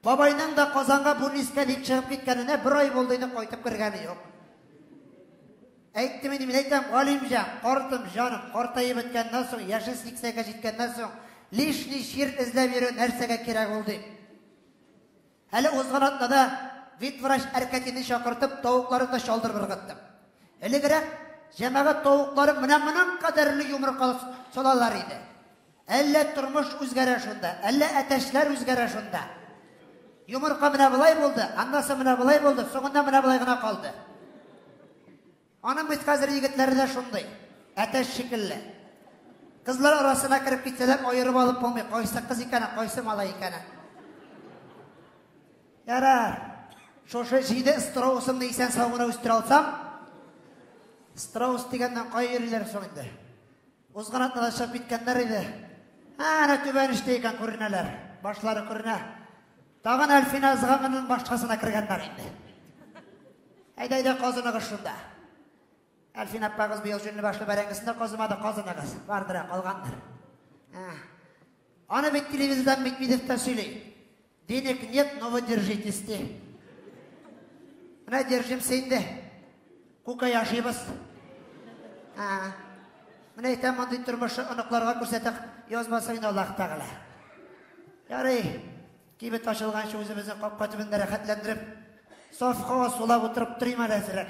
Бабайның да Казанга бүлнискә дип чыгып киткәненә бер ай булды инде, кайтып кергәне юк. Әйттем инде, мин әйтәм, Галимҗан, картым, җаным, картаеп беткәннән соң, яше 80-гә җиткәннән соң, лишний чир эзләп йөрү нәрсәгә кирәк ул дип. Әле узган атнада ветврач Әркәтине чакыртып, тавыкларын да чалдырып ыргыттым. Элегрәк җәмәгать тавыклары менә моның кадәрле йомырка салалар иде. Әллә тормыш үзгәрә шунда, әллә әтәчләр үзгәрә шунда. Йомырка менә былай булды, аннан соң менә былай булды, соңында менә былай гына калды. Аның бит хәзер егетләре дә шундый, әтәч шикелле. Кызлар арасына кереп китсәләр, аерып алып булмый, кайсы кыз икәнен, кайсы малай икәнен. Ярар. Шушы җиде страусымны исән сау гына үстерә алсам, страус дигәннән кая йөриләр соң инде? Узган атна да чыгып киткәннәр иде. Ә, әнә түбән эштә икән күренәләр. Башлары күренә. Тагын Әлфинә ызганганнан башкасына кергәннәр инде. Әйдә, әйдә, казыныгыз шунда. Әлфин аппагыз быел җүнле башлы бәрәңгесен дә казымады, казыныгыз. Бардыр, ә, калгандыр. Ә. Аны бит телевизордан Митмидев та сөйли. Денег нет, но вы держитесь, ди. Менә держимся инде. Күкә яшибез. А. Менә әйтәм, мондый тормыш оныкларга күрсәтәк, язмасын инде Аллаһ Тәгалә. Ярый, кибет ачылганчы үзебезне капка төбендә рәхәтләндереп, саф һава сулап утырып торыйм әле әзрәк.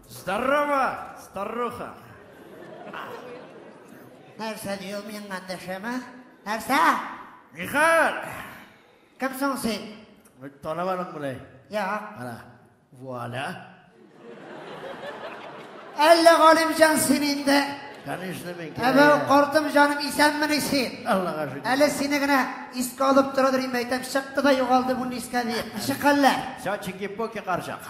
Здорово, старуха! Нәрсә ди ул минем гандәшемә? Нәрсә? Михаил! Кем соң син? Танымадың мыни? Я. Ана, вуаля. Әллә Галимҗан син инде? Конечно, мин. Әбәү, картым җаным, исәнмени син? Аллага шөкер. Әле сине генә искә алып тора дөрим әйтәм, чыкты да югалды бу нискә диеп. Ничек хәлләр? Все чики-пуки карчак.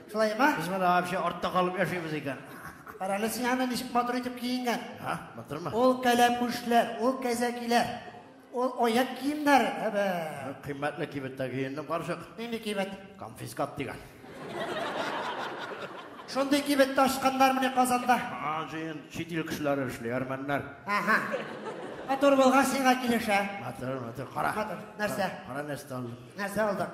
Шулай ма? Без монда вообще артта калып яшибез икән. Карале син аны ничек матур итеп киенгән. Ха, матурмы? Ул кәләпүшләр, ул кәзәкиләр, ул аяк киемнәр. Әбә. Кыйммәтле кибеттә киендем, карчык. Нинди кибет? Конфискат дигән. Шундый кибет ташканнар менә Казанда. А, җыен, чит ил кешеләре эшли, әрмәннәр. Ага. Матур булган сиңа килешә. Матур, матур, кара. Матур, нәрсә? Кара нәрсә алдым. Нәрсә алдың?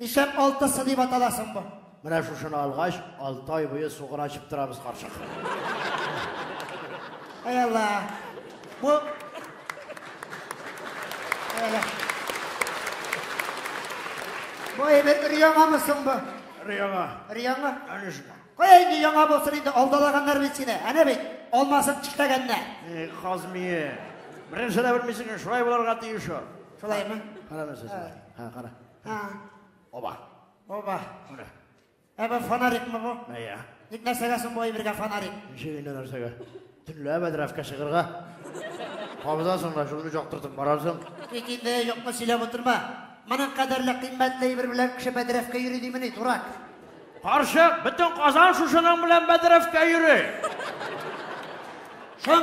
Нишәп алтысы дип атала соң бу? Менә шушыны алгач, алты ай буе сугыр ачып торабыз, карчык. Ай Алла. Бу Әйе. Бу әйбәт өр-яңамы соң бу? Өр-яңа. Өр-яңа? Әнә шуңа. Кая инде яңа булсын инде, алдалаганнар бит сине. Әнә бит, алмасын тишләгәннәр. Э, Казмие. Беренче дә белмисең, шулай булырга тиеш ул. Шулаймы? Карамы сез? Ха, кара. Ha. Оба. Оба. Менә. Ә бу фонарикмы бу? Әйе. Ник нәрсәгә соң бу әйбергә фонарик? Ничек инде нәрсәгә? Төнлә бәдрәфкә чыгырга. Кабызасың да шуны чактыртып барасың. Ник инде юкны сөйләп утырма. Моның кадәрле кыйммәтле әйбер белән кеше бәдрәфкә йөри димени, дурак. Карчык, бөтен Казан шушының белән бәдрәфкә йөри. Шун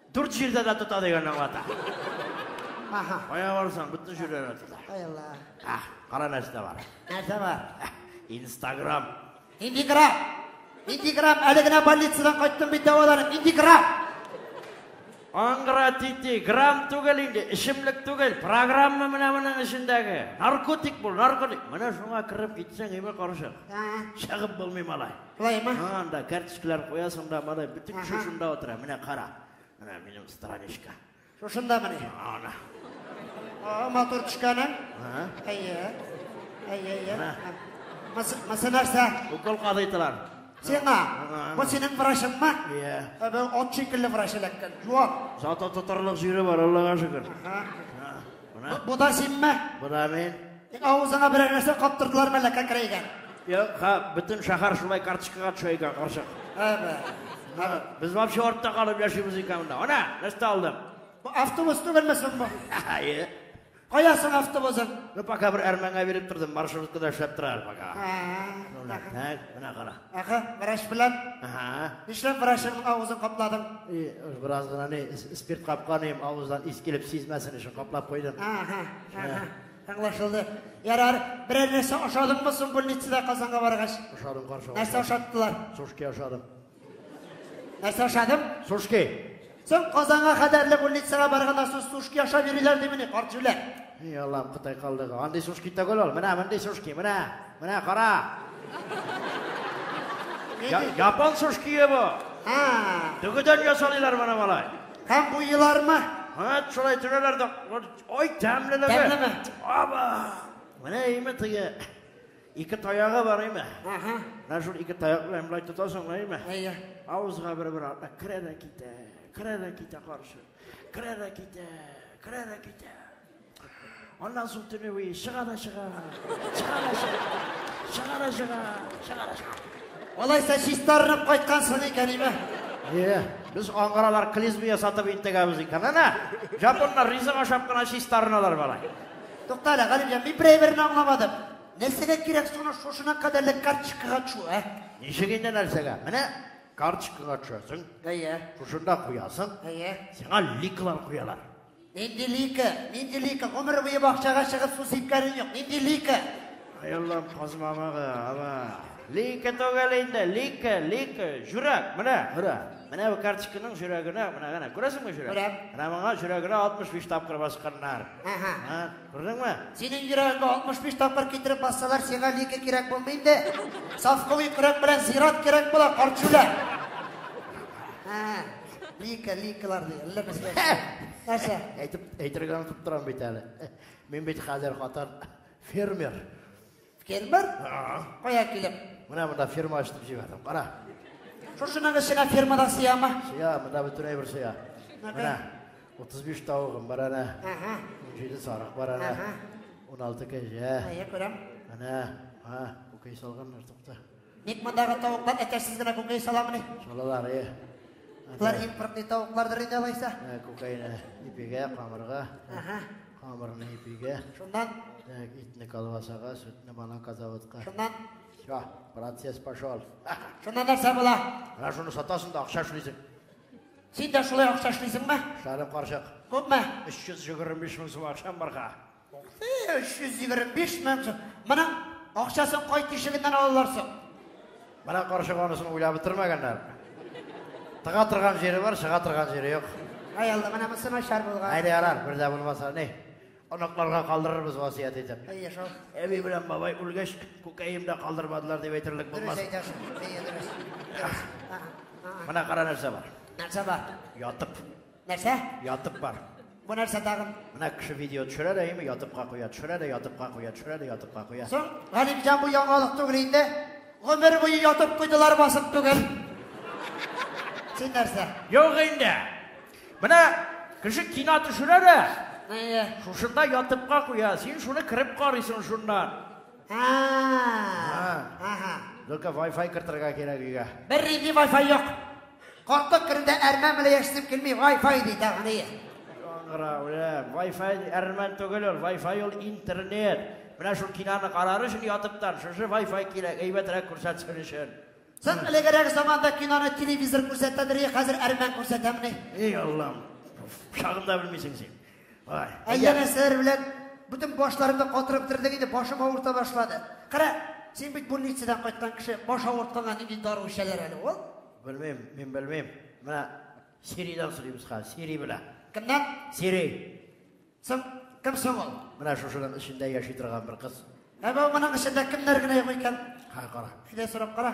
Дүрт җирдә дә тота дигән аңлата. Аха. Кая барсаң, бөтен җирдә дә тота. Ай Алла. Ах, кара нәрсә бар. Нәрсә бар? Инстаграм. Инстаграм. Инстаграм әле генә больницадан кайттым бит дәваланып. Инстаграм. Аңгыра тити, грамм түгел инде, эчемлек түгел, программа менә моның эчендәге. Наркотик бул, наркотик. Менә шуңа кереп китсәң, име карышыр. Чыгып булмый малай. Шулаймы? Анда карточкалар куясың да, мода бөтен кеше Ага. шунда утыра. Менә кара. Менә минем страничка. Шушында мени. Ана. О, матур төшкәнең. Ага. Әйе. Әйе, әйе. Ана. Мысы, мысы нәрсә? Укол кадыйтылар. Сиңа. Ага. Бу синең врачыңмы? Иә. Ә бу от шикелле врач эләккән. Юан. Зато тотарлык җире бар, Аллага шөкер. Ага. Бу, бу да синме? Бу да мин. Тик авызыңа берәр нәрсә каптырдылар мәллә кәкрәйгән. Юк, ха, бөтен шәһәр шулай карточкага төшә икән, карчык. Әбә. Ана, Без вообще артта калып яшибез икән монда. Ана, нәрсә алдым? Бу автобус түгелме соң бу? Әйе. Кая соң автобусың? Ну, пока бер әрмәнгә биреп тордым, маршруткада эшләп тора әле пока. Ә, Шунда, так, менә кара. Әхә, врач белән? Әһә. Нишләп врачның авызын капладың? И, бераз гына ни, спирт капканым, авыздан ис килеп сизмәсен өчен каплап куйдым. Әһә, әһә. Аңлашылды. Ярар, берәр нәрсә ашадыңмы соң больницада Казанга баргач? Ашадым, каршы. Нәрсә ашаттылар? Сушки ашадым. Нәрсә ашадым? Сушки. Соң Казанга кадәрле больницага барганда су сушки ашап йөриләр димени, карт җүләр? Эй, Аллам, Кытай калдыгы. Андый сушки түгел ул. Менә мондый сушки, менә. Менә кара. Я, япон сушкие бу. Ха. Дөгедән ясалыйлар моны малай. Һәм бу елармы? Ха, шулай төрәләр дә. Ой, тәмлелеге. Тәмлеме? Аба. Менә име тыгы. Ике таягы бар име? Аха. Менә шул ике таяк белән болай тотасың да име? Әйе. Авызга бер-бер атна керә дә китә, керә дә китә каршы. Керә дә китә, керә дә китә. Аннан соң төне буе чыга да чыга, чыга да чыга, чыга да чыга, чыга да чыга. Алайса чистарынып кайткансың икән име? Әйе. Без аңгыралар клизмия сатып интегәбез икән. Әнә, жапоннар ризык ашап кына чистарыналар бала. Тукта әле, Галимҗан, мин берәй берне аңламадым. Нәрсәгә кирәк соны шушына кадәрле карточкага төшү, ә? Ничек инде нәрсәгә? Менә карточкага төшәсең. Әйе. Шушында куясың. Әйе. Сиңа ликлар куялар. Нинди лика? Нинди лика? Гомер буе бакчага чыгып су сипкәнең юк. Нинди лика? Ай Аллам, казмамагы, ала. Лика түгел инде, лика, лика, жүрәк, менә, күрә. Менә бу карточканың жүрәгенә, менә генә, күрәсеңме жүрәк? Күрәм. Менә моңа жүрәгенә 65 тапкыр басканнар. Әһә. Ә, күрдеңме? Синең йөрәгеңә 65 тапкыр китереп бассалар, сиңа лике кирәк булмый инде. Сафкылый көрәк белән зират кирәк була, карчүлә. Әһә. Лика, ликалар ди. Әллә нәрсә. Нәрсә? Әйтеп, әйтергә онытып торам бит әле. Мин бит хәзер хатан фермер. Фермер? Кая килеп? Менә монда ферма ачтым җибәрдем. Кара. Шушының эченә фермадан сыяма? Сыя, монда бөтен әйбер сыя. Менә 35 тавыгым бар әнә. Ага. 17 сарык бар әнә. Ага. 16 кәҗә. Әйе, күрәм. Әнә, ха, күкәй салганнар тукта. Ник мондагы тавыклар әтәчсез генә күкәй саламыни? Салалар, е. Алар иң пыркый тавыклардыр инде алайса. Ә, Күкәйне ипигә, камырга, Ага. камырны ипигә, Шуннан, так, итне колбасага, сөтне бананка заводка. шуннан, Все, процесс пошел. шуннан нәрсә була? Менә шуны сатасың да акча эшлисең. Син дә шулай акча эшлисеңме? Шары карчык. Күпме? 325 мең сум акчам барга. 325 мең сум. Моның акчасын кай тишегеннән алалар соң? Менә карчык анысын уйлап бетермәгәннәр. Тыга торган җире бар, чыга торган җире юк. Ай Алла, менә монысы начар булган. Әйдә ярар, бер дә булмаса, ни. Оныкларга калдырырбыз васыять итеп. Әйе, шул. Әби белән бабай үлгәч, күкәем дә калдырмадылар дип әйтерлек Дөрес булмас. әйтәсең. Әйе, дөрес. Дөрес. Ага, ага. Менә кара нәрсә бар. Нәрсә бар? Ятып. Нәрсә? Ятып бар. Бу нәрсә тагын? Менә кеше видео төшерә дә, яме ятыпка куя, төшерә дә, ятыпка куя, төшерә дә, ятыпка куя. Соң, Галимҗан бу яңалык түгел инде. Гомер буе ятып куйдылар басып түгел. Син нәрсә? Юк инде. Менә кеше кино төшерә дә, Әйе. шушында ятыпка куя. Син шуны кереп карыйсың шуннан. Ага. Ага. Только Wi-Fi кертергә кирәк өйгә. Бер ринди Wi-Fi юк. Картлык көнендә әрмән белән яшисем килми, Wi-Fi ди тәгъния. Аңгыра, үлә. Wi-Fi әрмән түгел ул, Wi-Fi ул интернет. Менә шул кинаны карар өчен ятыптан шушы Wi-Fi кирәк, әйбәтрәк күрсәтсен өчен. Соң элегрәк заманда киноны телевизор күрсәтәдер, хәзер әрмән күрсәтәмени? Эй, Аллам, шагында белмисең син. Ай. Әллә нәрсәләр белән бөтен башларымны катырып тордың инде, башым авырта башлады. Кара, син бит больницадан кайткан кеше, баш авыртканга нинди дару эчәләр әле ул? Белмим, мин белмим. Менә Сиридан сорыйбыз хәзер, Сири белә. Кемнән? Сири. Соң кем соң ул? Менә шушының эчендә яши торган бер кыз. Ә бу моның эчендә кемнәр генә юк икән? Ха, кара. Әйдә сорап кара.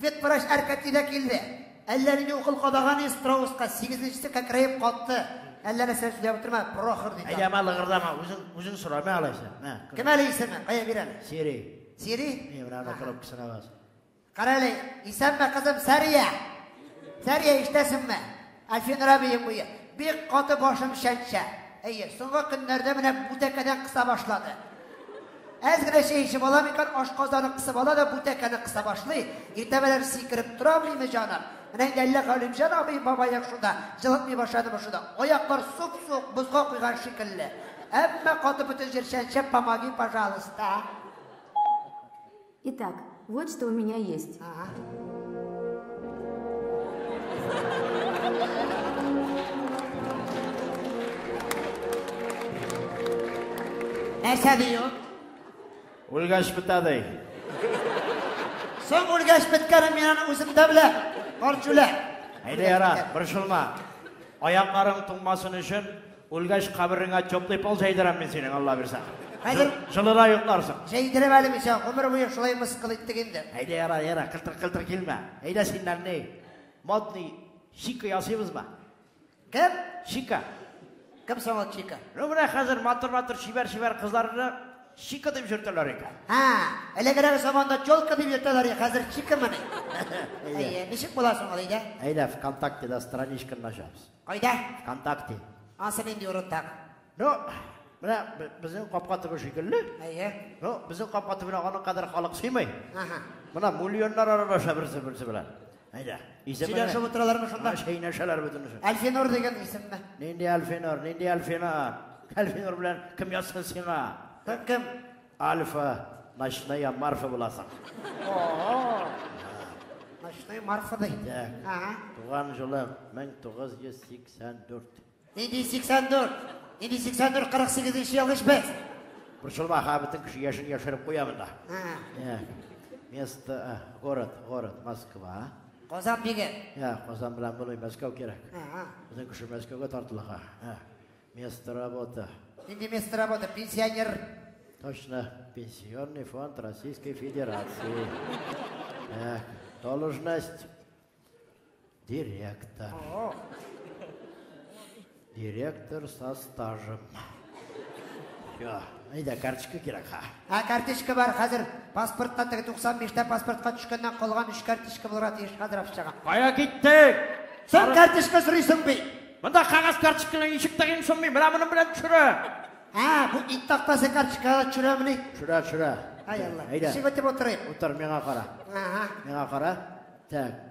Ветврач Әркәти дә килде. Әллә нинди укол кадаган иде Страуска, сигезенчесе кәкрәеп катты. Әллә нәрсә сөйләп утырма, прохор ди. Әйдә, ма лыгырдама, үзең, үзең сора, мә алайса. Мә. Кем әле исеме? Кая бирәм? Сири. Сири? Мә, менә анда трубкасына бас. Кара әле, исәнме, кызым, Сәрия? Сәрия, ишетәсеңме? Афинра бейем буе. Бик каты башым чәнчә. Әйе, соңгы көннәрдә менә бу тәкәдән кыса башлады. Әз генә чәй эчеп аламы икән, ашказаны кысып ала да бу тәкәне кыса башлый. Иртә белән сикереп тора алмыймы җаным? Менә инде әллә Галимҗан абый бабаек шунда, җылытмый башладымы шунда. Аяклар суп-суык бозга куйган шикелле. Әмма каты бөтен җир чәнчә, помоги, пожалуйста. Итак, вот что у меня есть. Ага. Нәрсә дию? Үлгәч бетәдей. Соң үлгәч беткәнен мин аны үзем дә беләм. Карт җүлә. Әйдә яра, борчылма. Аякларың туңмасын өчен Үлгәч кабереңә теплый пол җәйдерәм мин синең, Алла бирсә. Хәзер җылыда йокларсың. Җәйдерәм әле мисә, гомер буе шулай мыскыл иттек инде. Әйдә, яра, яра, кылтыр-кылтыр килмә. Әйдә синнән ни? Модный чика ясыйбызмы? Кем? Чика. Кем соң ул чика? Ну менә хәзер матур-матур чибәр-чибәр кызларны чика дип йөртәләр икән. Ха, элегрәк заманда челка дип йөртәләр иде, хәзер чикамыни? Әйе, ничек була соң ул, әйдә? Әйдә, ВКонтактеда страничканы ачабыз. Кайда? Вконтакте. Ансы нинди урында? Ну, менә безнең капка төбе шикелле. Әйе. Ну, безнең капка төбенә аның кадәр халык сыймый. Ага. Менә миллионнар аралаша берсе берсе белән. Әйдә. Сөйләшеп утыралармы шунда? Шәйнәшәләр бөтенесе. Әлфинур дигән исемме? Нинди Әлфинур, нинди Әлфинур? Әлфинур белән кем язсын сиңа? Кем? Альфа, ночная марфа буласың. О-о-о. Ночная марфа да инде. Ага. Туган җылың 1984. Нинди 84? Нинди 84 48 ел ич без. Борчылма, ха бөтен кеше яшен яшереп куя монда. Ага. Место, э, город, город Москва. Казан биге. Я, Казан белән булмый, Мәскәү кирәк. Ага. Безнең кеше Мәскәүгә тартыла. Ага. Место работы. Нинди место работы? Пенсионер. Точно. Пенсионный фонд Российской Федерации. Так, должность. Директор. Директор со стажем. Все. Әйдә, карточка кирәк ха. Ә карточка бар хәзер. Паспортка теге 95 та паспортка төшкәннән калган 3 карточка булырга тиеш хәзер акчага. Кая киттек? Син карточка сорыйсың бит. Монда кагаз карточкалар ничек тагын суммый? Менә моның белән төшерә. Ә, бу ит тактасы карточкалар төшерәмени? Төшерә, төшерә. Ай Алла. Әйдә. Ишек үтеп утырыйк. Утыр, миңа кара. Ага. Миңа кара. Так.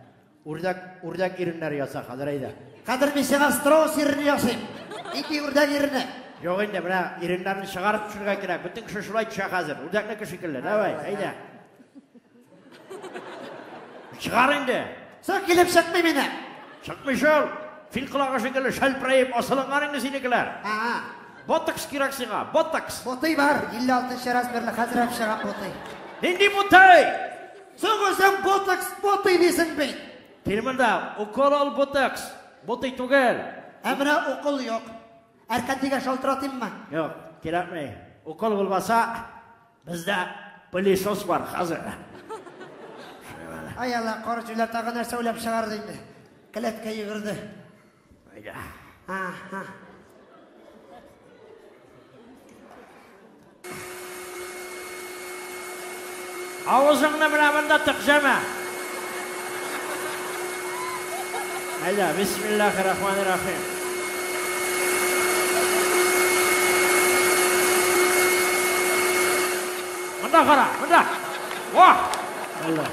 Үрдәк, үрдәк иреннәр яса хәзер әйдә. Хәзер мин сиңа страус ирен ясыйм. Ипи үрдәк иренне. Юк инде, менә иреннәрне чыгарып төшергә кирәк. Бөтен кеше шулай төшә хәзер. Үрдәкнеке шикелле. Давай, әйдә. Чыгар инде. Соң килеп чыкмый мине. Чыкмый шул. Фил колагы шикелле шәлпрәеп асылынган инде синекеләр. Ага. Ботокс кирәк сиңа, ботокс. Ботый бар, 56 размерлы хәзер әп чыгам ботый. Нинди ботый? Соң үзең ботокс ботый дисең бит. Кил монда, укол ал ботокс. Ботый түгел. Ә менә укол юк. Әркәтигә шалтыратыйммы? Юк, кирәкми. Укол булмаса, Бездә пылесос бар хәзер. Ай алла, кар җүләр тагы нәрсә уйлап чыгарды инде. Келәткә йөгерде. Әйдә. Аха. Авызыңны менә монда тыкҗәмә. Әйдә, бисмиллахи рахмани рахим. Монда кара, монда. Ва! Әллә.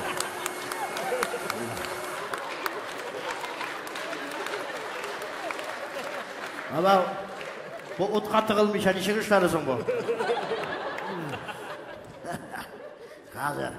Ала бу утка тыгылмыйча ничек эшләре соң бу? Хәзер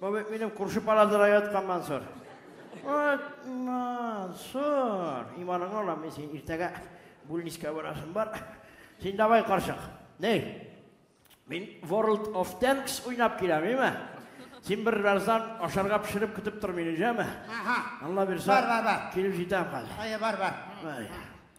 Бу бит минем күрше палатада яткан Мансур. Вот, Мансур, иманыңа алам мин син иртәгә бүлнискә барасың бар. Син давай каршык. Ней? Мин World of Tanks уйнап киләм, име? Син бер раздан ашарга пешереп көтеп тор мине, җәме? Ага. Алла бирсә. Бар, бар, бар. Килеп җитәм хәзер. Әйе, бар, бар. Әйе.